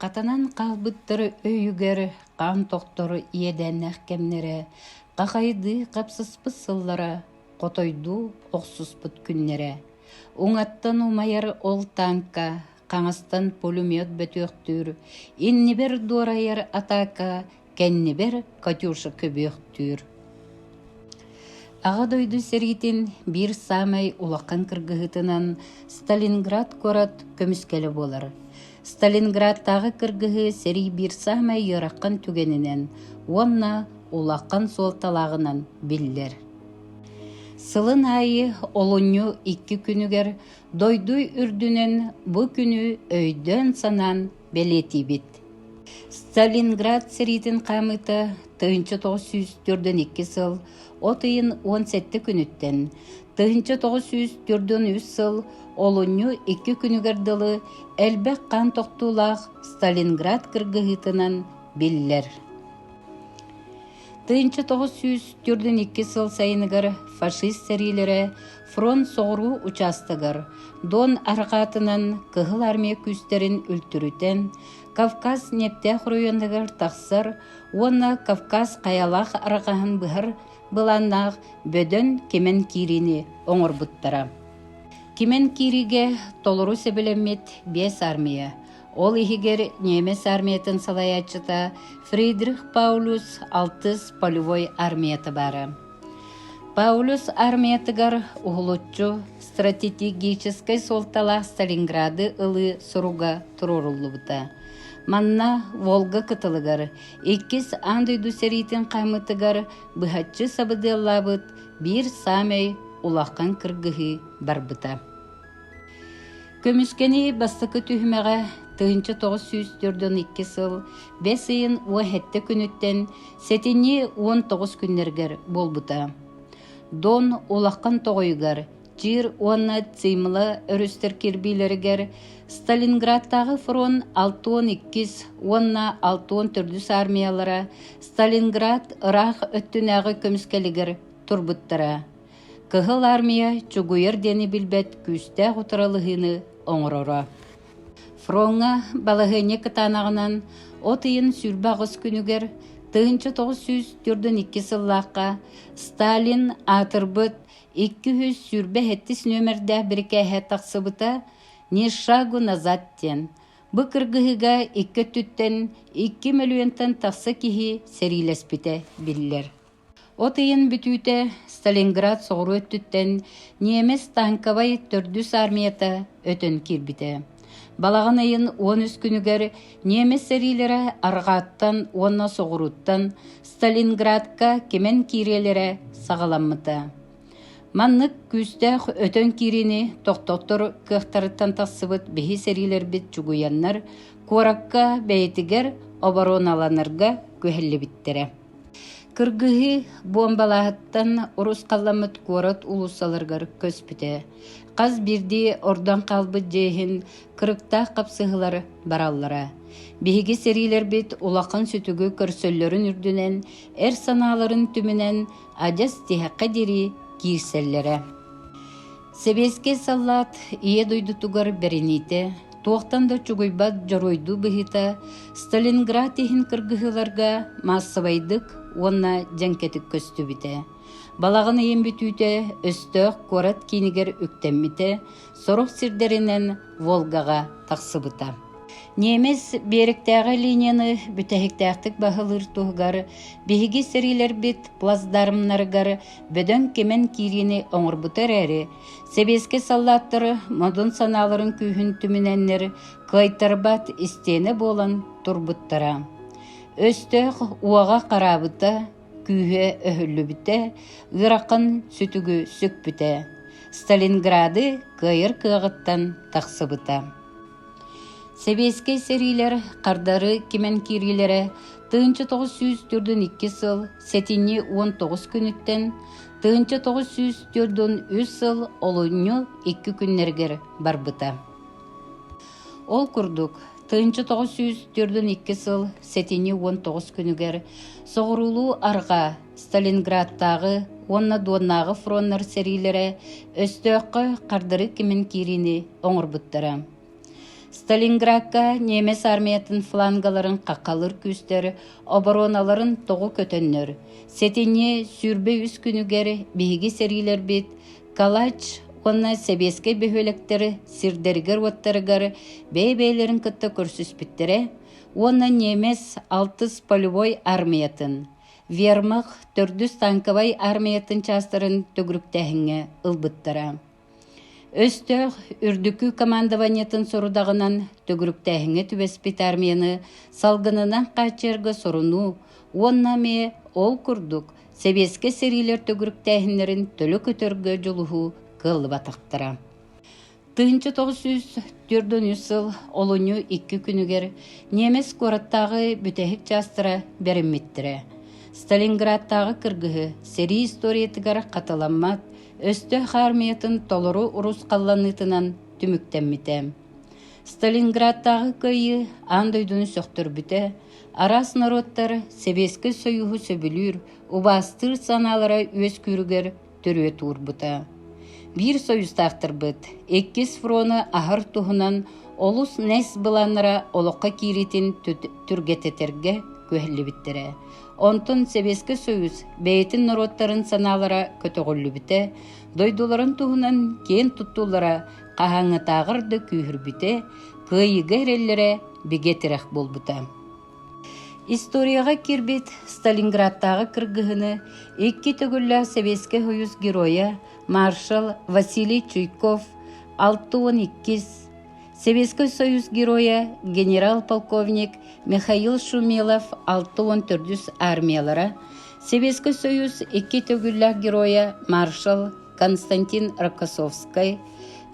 Хатанан хаалбыттар өйүгэр хаан тохтору иэдээннээх кэмнэрэ, хахайдыы хапсыспыт сыллара, хотойдуу охсуспут күннэрэ, уҥаттан умайар ол тааҥка, хаҥастан пулемет бөтүөхтүүр, иннибэр дуорайар атаака кэннибэр Катюша көбүөхтүүр Аҕа дойду сэриитин биир саамай улахан кыргыһыытынан Сталинград куорат көмүскэлэ буолар. Сталинградтааҕы кыргыһыы сэрии биир саамай ыарахан түгэнинэн уонна улахан суолталааҕынан биллэр. Сылын аайы олунньу икки күнүгэр дойду үрдүнэн бу күнү өйдөөн-санаан бэлиэтиибит. Сталинград сэриитин хаамыыта тыһыынча тоҕус сүүс төрдөн икки сыл от ыйын уон сэттэ күнүттэн тыһыынча тоҕус сүүс төрдөн үс сыл олунньу икки күнүгэр дылы элбэх хаан тохтуулаах Сталинград кыргыһыытынан биллэр. Тыынча тоҕус сүүс төрдүн икки сыл сайыныгар фашист сэриилэрэ фронт соҕуруу учаастагар Дон арҕаатынан Кыһыл Армия күүстэрин үлтүрүтэн Кавказ ньиэптээх оройуонугар тахсар уонна Кавказ хайалаах арҕаһын быһар былааннаах бөдөҥ кимэн киириини оҥорбуттара. Кимэн киириигэ толору сөбүлэммит биэс армия Ол иһигэр немец армиятын салайааччыта Фридрих Паулюс алтыс полевой армията баара. Паулюс армиятыгар уһулуччу стратегическай суолталаах Сталинграды ылыы суруга туруоруллубута. Манна Волга кытылыгар иккис андыйду сэриитин қаймытыгар быһаччы сабыдыаллабыт биир самай улахан кыргыһыы барбыта. Көмүскэни бастакы түһүмэҕэ тыһыынча тоҕус сүүс төрдөн икки сыл бэс ыйын уоһэттэ күнүттэн сэтинньи уон тоҕус күннэргэр буолбута. Дон улахан тоҕойугар Чир уонна Цимла өрүстэр кирбиилэригэр Сталинградтааҕы фронт алтуон иккис уонна алтуон төрдүс армиялара Сталинград ыраах өттүнээҕи көмүскэлигэр турбуттара. Кыһыл Армия чугуйар диэни билбэт күүстээх утаралыһыыны оҥороро. Фроҥҥа балаһыанньа кытаанаҕынан от ыйын сүүрбэ аҕыс күнүгэр 1902 сыллаахха Сталин аатырбыт 287 нүөмэрдээх бирикээһэ тахсыбыта «Ни шагу назад» диэн. Бу кыргыһыыга икки өттүттэн 2 мөлүйүөнтэн тахса киһи сэриилэспитэ биллэр. От ыйын бүтүүтэ Сталинград соҕуруу өттүттэн немец танковай төрдүс армията өтөн киирбитэ. Балаҕан ыйын уон үс күнүгэр немец сэриилэрэ арҕааттан уонна соҕурууттан Сталинградка кимэн киириэлэрэ саҕаламмыта. Маннык күүстээх өтөн киириини тохтоттор кыахтарыттан тахсыбыт биһи сэриилэрбит чугуйаннар, куоракка бэйэтигэр обороналанарга күһэллибиттэрэ. Кыргыһыы буомбалааһыттан урус халламмыт куорат уулуссаларыгар көспүтэ, хас биирдии ордон хаалбыт дьиэ иһин кырыктаах хапсыһыылар бараллара. Биһиги сэриилэрбит улахан сүтүгү көрсөллөрүн үрдүнэн, эр санааларын түмүнэн адьас тиһэххэ диэри киирсэллэрэ Сэбиэскэй саллаат Ийэ дойдутугар бэриниитэ, туохтан да чугуйбат дьоруойдуу быһыыта Сталинград иһин кыргыһыыларга маассабайдык уонна дьэҥкэтик көстүбүтэ. Балаҕан ыйын бүтүүтэ өстөөх куорат киинигэр үктэммитэ, сорох сирдэринэн Волгаҕа тахсыбыта. Ниэмэс биэрэктээҕи линияны бүтэһиктээхтик баһылыыр туһугар биһиги сэриилэрбит плацдармнарыгар бөдөҥ кимэн киириини оҥорбута эрээри, сэбиэскэй саллааттары модун санааларын күүһүн түмүнэннэр кыайтарбат истиэнэ буолан турбуттара. Өстөөх уоҕа хараабыта, күүһэ өһүллүбүтэ, ыарахан сүтүгү сүкпүтэ. Сталинграды кыайар кыаҕыттан тахсыбыта. Сэбиэскэй сэриилэр хардары кимэн киириилэрэ тыһыынча тоҕус сүүс төрдүн икки сыл сэтинньи уон тоҕус күнүттэн тыһыынча тоҕус сүүс төрдүн үс сыл олунньу икки күннэригэр барбыта. Ол курдук, тыһыынча тоҕус сүүс төрдүн икки сыл сэтинньи уон тоҕус күнүгэр соҕуруулуу арҕаа Сталинградтааҕы уонна Дуоннааҕы фроннар сэриилэрэ өстөөххө хардары кимин киириини оҥорбуттара. Сталинградка немец армиятын флангаларын хахалыр күүстэр обороналарын тоҕу көтөннөр, сэтинньи сүүрбэ үс күнүгэр биһиги сэриилэрбит Калач уонна Сэбиэскэй бөһүөлэктэри сирдэригэр-уоттарыгар бэйэ-бэйэлэрин кытта көрсүспүттэрэ уонна немец алтыс полевой армиятын Вермах төрдүс тааҥкабай аармыйаттан чаастарын төгүрүктээһиҥҥэ ылбыттара. Өстөөх үрдүкү командованиетын сорудаҕынан төгүрүктээһиҥҥэ түбэспит аармыйаны салгынынан хааччыйарга сорунуу уонна эмиэ ол курдук сэбиэскэй сэриилэр төгүрүктээһиннэрин төлө көтөргө дьулуһуу кыаллыбатахтара. тыһыынча тоҕус сүүс төрдүнүүс сыл олунньу икки күнүгэр немец куораттааҕы бүтэһик чаастара бэриммиттэрэ сталинградтааҕы кыргыһы сэрии историятыгар хатыламмат өстөөх аармыйатын толору урус халланыытынан түмүктэммитэ сталинградтааҕы кыайыы аан дойдуну сөхтөрбүтэ араас норуоттар сэбиэскэй союһу сөбүлүүр убаастыыр санаалара үөскүүрүгэр төрүөт уурбута. Биир союзтаахтарбыт иккис фрону аһар туһунан олус нес быланнара олоххо кииритин түргэтэтэргэ күһэллибиттэрэ. Онтон Сэбиэскэ Союз бэйэтин норуоттарын санаалара көтөҕүллүбүтэ, дойдуларын туһунан киэн туттуулара хаһаҥытааҕар да күүһүрбүтэ, кыайыыга эрэллэрэ бигэ тирэх буолбута. Историяҕа киирбит Сталинградтааҕы кыргыһыыны икки төгүллээх сэбиэскэй сойуус геройа маршал Василий Чуйков алта уон иккис, Сэбиэскэй Сойуус геройа генерал-полковник Михаил Шумилов алта уон төрдүс армиялара, Сэбиэскэй Сойуус икки төгүллээх геройа маршал Константин Рокоссовскай,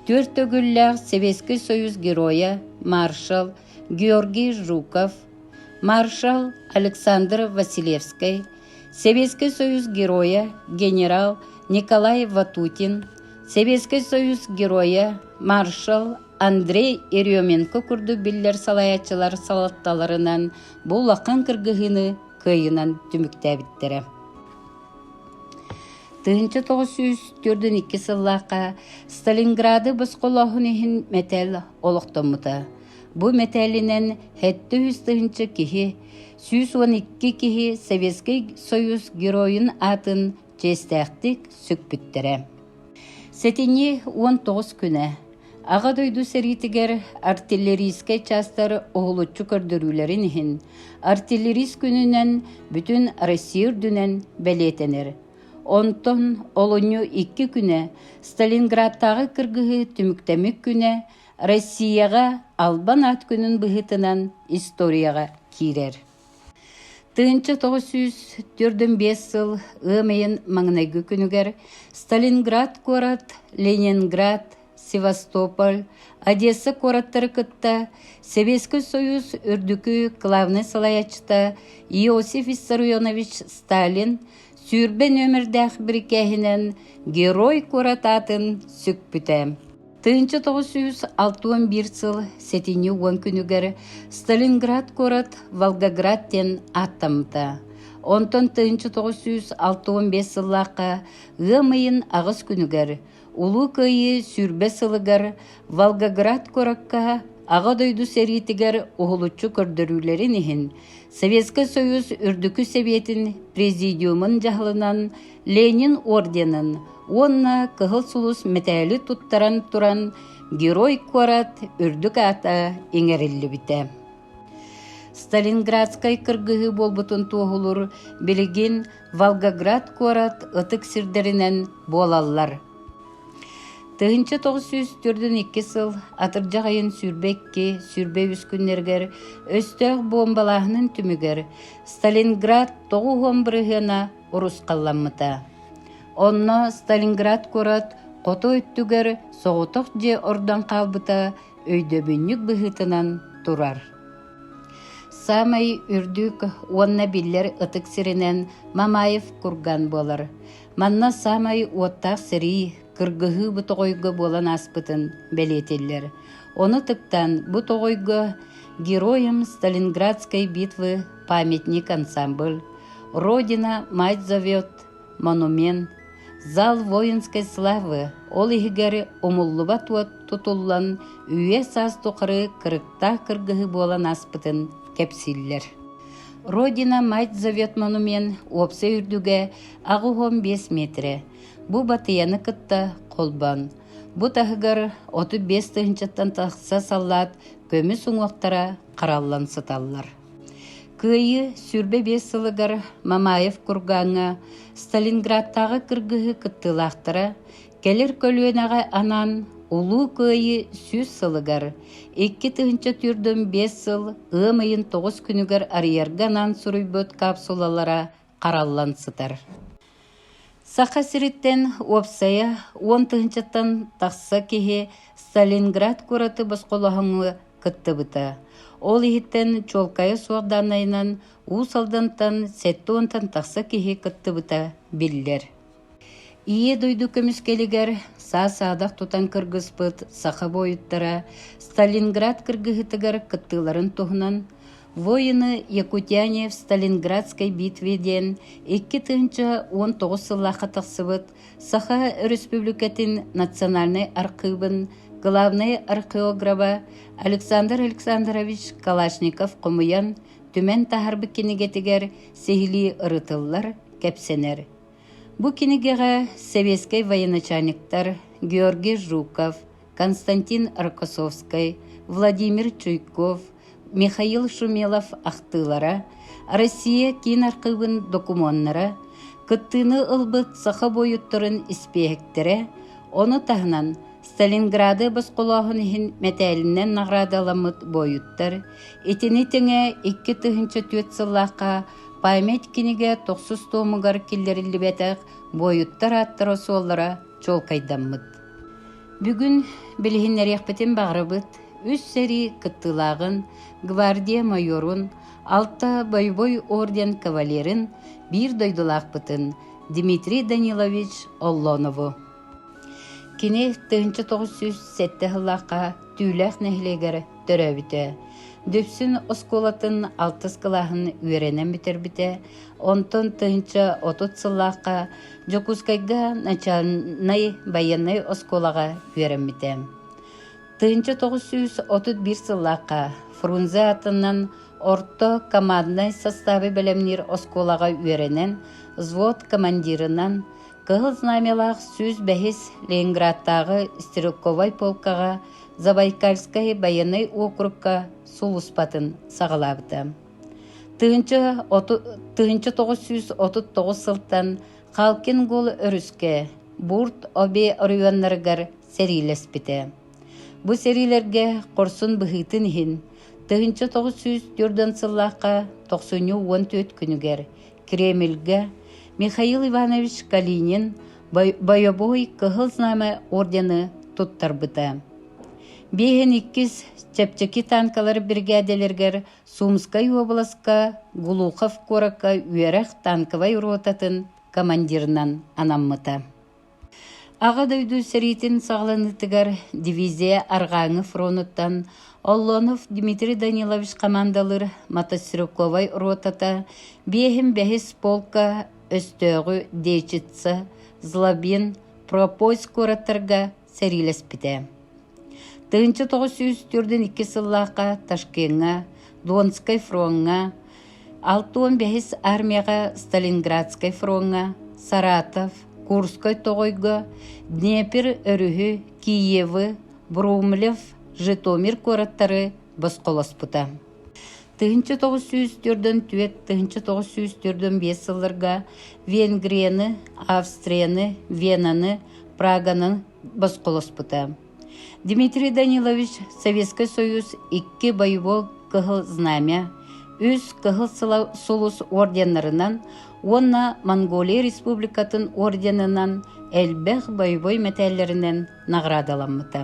түөрт төгүллээх Сэбиэскэй Сойуус геройа маршал Георгий Жуков, маршал Александр Василевскай, Сэбиэскэй Союз Геройа генерал Николай Ватутин, Сэбиэскэй Союз Геройа маршал Андрей Еременко курдук биллэр салайааччылар салалталарынан бу улахан кыргыһыыны кыайынан түмүктээбиттэрэ. Тыһыынча тоҕус сүүс төрдүн икки сыллаахха Сталинграды босхолооһун иһин мэтээл олохтоммута. Бу мэтээлинэн сэттэ үс тыһыынча киһи, сүүс уон икки киһи Советский Союз геройун аатын чиэстээхтик сүкпүттэрэ. Сэтинyi уон тоҕус күнэ Аҕа дойду сэриитигэр артиллерийскэй чаастар уһулуччу көрдөрүүлэрин иһин артиллерист күнүнэн бүтүн Россия үрдүнэн бэлиэтэнэр. Онтон олунньу икки күнэ Сталинградтааҕы кыргыһыы түмүктэмик күнэ Россияҕа Албан аат күнүн быһыытынан историяҕа киирэр. Тыынча тоҕус сүүс төрдүн биэс сыл ыам ыйын маҥнайгы күнүгэр Сталинград куорат, Ленинград, Севастополь, Одесса куораттары кытта Сэбиэскэй Союз үрдүкү главнай салайааччыта Иосиф Виссарионович Сталин сүүрбэ нүөмэрдээх бирикээһинэн Герой куорат аатын сүкпүтэ. Тыынча тоҕус сүүс алта уон биир сыл сэтинньи уон күнүгэр Сталинград куорат Волгоград диэн ааттаммыта. Онтон тыынча тоҕус сүүс алта уон биэс сыллаахха ыам ыйын аҕыс күнүгэр Улуу Кыайыы сүүрбэ сылыгар Волгоград куоракка Аҕа дойду сэриитигэр уһулуччу көрдөрүүлэрин иһин Советскай Союз Үрдүкү Сэбиэтин Президиумун дьаһалынан Ленин орденын уонна Кыһыл сулус мэтээли туттаран туран Герой куорат үрдүк аата иҥэриллибитэ. Сталинградскай кыргыһыы буолбутун туоһулуур билигин Волгоград куорат ытык сирдэринэн буолаллар. Тыһынча тоғыз сүүс төрдүн икки сыл атырдьах айын сүүрбэ икки сүүрбэ үс күннэргэр өстөөх бомбалааһынын түмүгэр Сталинград тоҕу уон бырыһыана урусхалламмыта. Онно Сталинград куорат хоту өттүгэр соҕотох дьиэ ордон хаалбыта өйдөбүнньүк быһыытынан турар. Саамай үрдүк уонна биллэр ытык сиринэн Мамаев курган буолар. Манна саамай уоттаах сэрии, кыргыһыы бу тоҕойго буолан ааспытын бэлиэтиллэр. Ону тыктан бу тоҕойго Героям Сталинградской битвы памятник ансамбль Родина мать зовет монумент зал воинской славы ол иһигэр умуллубат уот тутуллан үйэ-саас тухары кырыктаах кыргыһыы буолан ааспытын кэпсииллэр. Родина мать зовет монумент уопсай үрдүгэ аҕы бес метрэ. Бу батыяны кытта холбон. Бу таһыгар 35 тыһынчаттан тахса саллаат көмүс уҥуохтара хараллан сыталлар. Кыайыы сүүрбэ биэс сылыгар Мамаев кургааҥҥа Сталинградтааҕы кыргыһыы кыттыылаахтара кэлэр көлүөнэҕэ анаан Улуу Кыайыы сүүс сылыгар, икки тыһыынча түүрдүн биэс сыл ыам ыйын тоҕус күнүгэр арыйарга анаан суруйбут капсулалара хараллан сытар. Саха сириттэн уопсайа уон тыһынчаттан тахса киһи Сталинград куораты босхолоһоҥҥо кыттыбыта. Ол иһиттэн чуолкайа суох даанайынан Уус Алдантан сэттэ уонтан тахса киһи кыттыбыта биллэр. Ийэ дойду көмүскэлигэр саа-саадах тутан кыргыспыт саха буойуттара Сталинград кыргыһыытыгар кыттыыларын туһунан «Воины Якутяне в Сталинградской битве» диэн икки тыһыынча уон тоҕус сыллаахха тахсыбыт Саха Өрөспүүбүлүкэтин национальнай архыыбын главнай археограба Александр Александрович Калашников хомуйан, түмэн таһаарбыт кинигэтигэр сиһилии ырытыллар, кэпсэнэр. Бу кинигэҕэ сэбиэскэй военачальниктар Георгий Жуков, Константин Рокоссовскай, Владимир Чуйков, Михаил Шумелов ахтыылара, Россия киин архыыбын докумуоннара, кыттыыны ылбыт саха буойуттарын испииһэктэрэ, ону таһынан Сталинграды босхолооһун иһин мэтээлинэн наҕараадаламмыт буойуттар итини тэҥэ икки тыһыынча түөрт сыллаахха Память кинигэ тохсус туомугар киллэриллибэтэх буойуттар ааттара-суоллара чуолкайдаммыт. Бүгүн билиһиннэриэхпитин баҕарабыт үс сэрии кыттыылааҕын, гвардия майорун, алта боевой орден кавалерын, биир дойдулаахпытын Дмитрий Данилович Оллонову. Кини тыһыынча тоҕус сүүс сэттэ сыллаахха Түүлээх нэһилиэгэр төрөөбүтэ. Дүпсүн оскуолатын алтыс кылааһын үөрэнэн бүтэрбитэ, онтон тыһыынча отут сыллаахха Дьокуускайга начальнай байыаннай оскуолаҕа үөрэммитэ. Тыһыынча тоҕус сүүс отут биир сыллаахха Фрунзе аатынан орто команднай састаабы бэлэмниир оскуолаҕа үөрэнэн, взвод командирынан, Кыһыл Знамялаах сүүс бэһис Ленинградтааҕы стрелковай полкаҕа Забайкальскай байыаннай округка сулууспатын саҕалаабыта. Тыһыынча, оту, тыһыынча тоҕус сүүс отут тоҕус сылтан Халкингул өрүскэ Бурт Обе оройуоннарыгар сэриилэспитэ. Бу сэриилэргэ хорсун быһыытын иһин, тыһыынча тоҕус сүүс төрдөн сыллаахха тохсунньу уон түөрт күнүгэр Кремльгэ Михаил Иванович Калинин Бойобуой Кыһыл Знамя ордены туттарбыта. Биэһин иккис чэпчэки танкалар биригээдэлэригэр Сумскай уобаласка Глухов куоракка үөрэх танковай ротатын командирынан анаммыта. Аҕа дойду сэриитин саҕаланыытыгар дивизия арҕааҥы фронуттан Оллонов Дмитрий Данилович хамаандалыыр мотострелковай ротата, биэһин бэһис полка, өстөөҕү Дечица, Злобин, Пропость куораттарга сэриилэспитэ. Тыһыынча тоҕус сүүс төрдүн иккис сыллаахха Ташкеҥҥа, Донскай фроҥҥа, алта уон бэһис армияҕа Сталинградскай фроҥҥа, Саратов, Курскай тоҕойго, Днепр өрүһү, Киевы, Брумлев, Житомир куораттары босхолоспута. тыһыынча тоҕус сүүс төрдөн түөрт тыһыынча тоҕус сүүс төрдөн биэс сылларга Венгрияны, Австрияны, Венаны, Праганы босхолоспута. Дмитрий Данилович Советский Союз икки боевой кыһыл знамя, үс кыһыл сулус орденнарынан уонна Монголия Республикатын орденынан элбэх боевой мэтээллэринэн наҕараадаламмыта.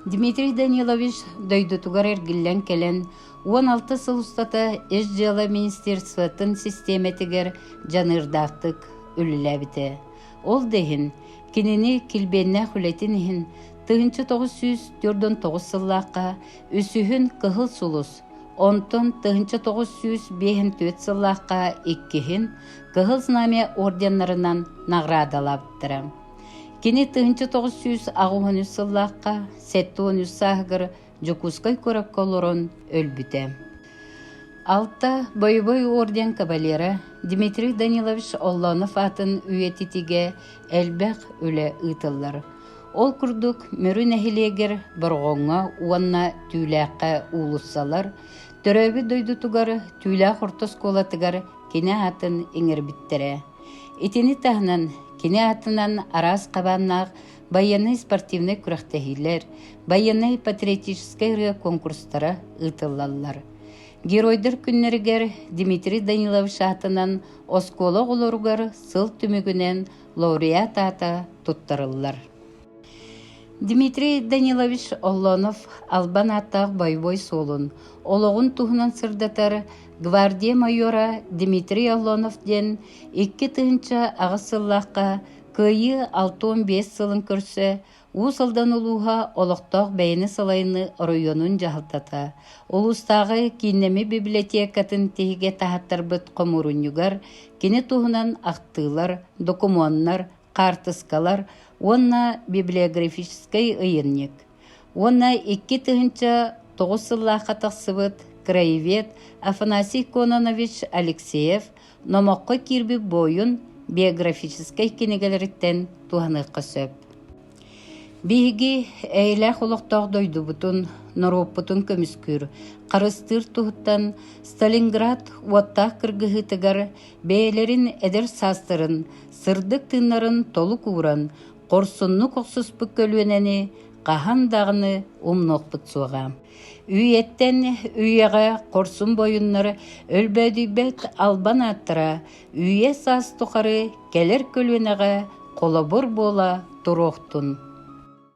Дмитрий Данилович дойдутугар эргиллэн кэлэн уон алта сыл устата Ис дьыала министерствотын систиэмэтигэр дьаныырдаахтык үлэлээбитэ. Ол да иһин кинини килбиэннээх үлэтин иһин 1909 сыллаахха үсүһүн Кыһыл Сулус, онтон 1954 сыллаахха иккиһин Кыһыл Знамя орденнарынан наҕараадалаабыттара. Кини тыһыынча тоҕус сүүс аҕыс үс сыллаахха сэттэ уон үс сааһыгар Дьокуускай куоракка олорон өлбүтэ. Алта Боевой орден кавалера Дмитрий Данилович Оллонов аатын үйэтитигэ элбэх үлэ ыытыллар. Ол курдук Мөрү нэһилиэгэр Борҕоҥҥо уонна Түүлээххэ уулуссалар, төрөөбүт дойдутугар Түүлээх орто оскуолатыгар кинэ аатын иҥэрбиттэрэ. Итини таһынан, кини аатынан араас хабааннаах байыаннай спортивнай күрэхтэһиилэр, байыаннай-патриотическай ырыа куонкурстара ыытыллаллар. Геройдар күннэригэр Дмитрий Данилович аатынан оскуола оҕолоругар сыл түмүгүнэн лауреат аата туттарыллар. Дмитрий Данилович Оллонов албан ааттаах бойобуой суолун, олоҕун туһунан сырдатар гвардия майора Дмитрий Оллонов диэн икки тыһыынча аҕыс сыллаахха Кыайыы алта уон биэс сылын көрсө Уус Алдан улууһа олохтоох бэйэни салайыныы оройуонун дьаһалтата, улуустааҕы кииннэми библиотекатын тиһигэ таһаттарбыт хомуурунньугар кини туһунан ахтыылар, докумуоннар, хаартыскалар уонна библиографическай ыйынньык уонна икки тыһыынча тоҕус сыллаахха тахсыбыт краевед Афанасий Кононович Алексеев номоххо киирбит буойун биографическай кинигэлэриттэн туһаныахха сөп. Биһиги эйэлээх олохтоох дойдубутун, норуоппутун көмүскүүр харыстыыр туһуттан Сталинград уоттаах кыргыһыытыгар бэйэлэрин эдэр саастарын сырдык тыыннарын толук ууран, хорсуннук охсуспут көлүөнэни хаһан даҕаны умнуохпут суоҕа. Үйэттэн үйэҕэ хорсун бойуннар өлбөөдүйбэт албан ааттара үйэ-саас тухары кэлэр көлүөнэҕэ холобур буола туруохтун.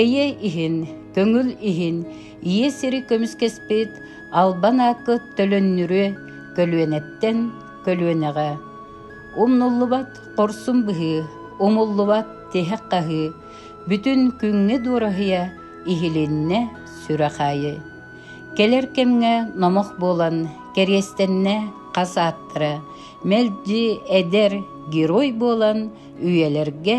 Эйэ иһин, көҥүл иһин ийэ сири көмүскэспит албан ааккыт төлөннүрүө көлүөнэттэн көлүөнэҕэ. Умнуллубат хорсун быһыы, умуллубат тиһэх хаһыы, бүтүн күҥҥэ дуораһыйа иһилиннэ сүрэх аайы. Кэлэр кэмҥэ номох буолан кэриэстэннэ хас ааттара мэлдьи эдэр герой буолан үйэлэргэ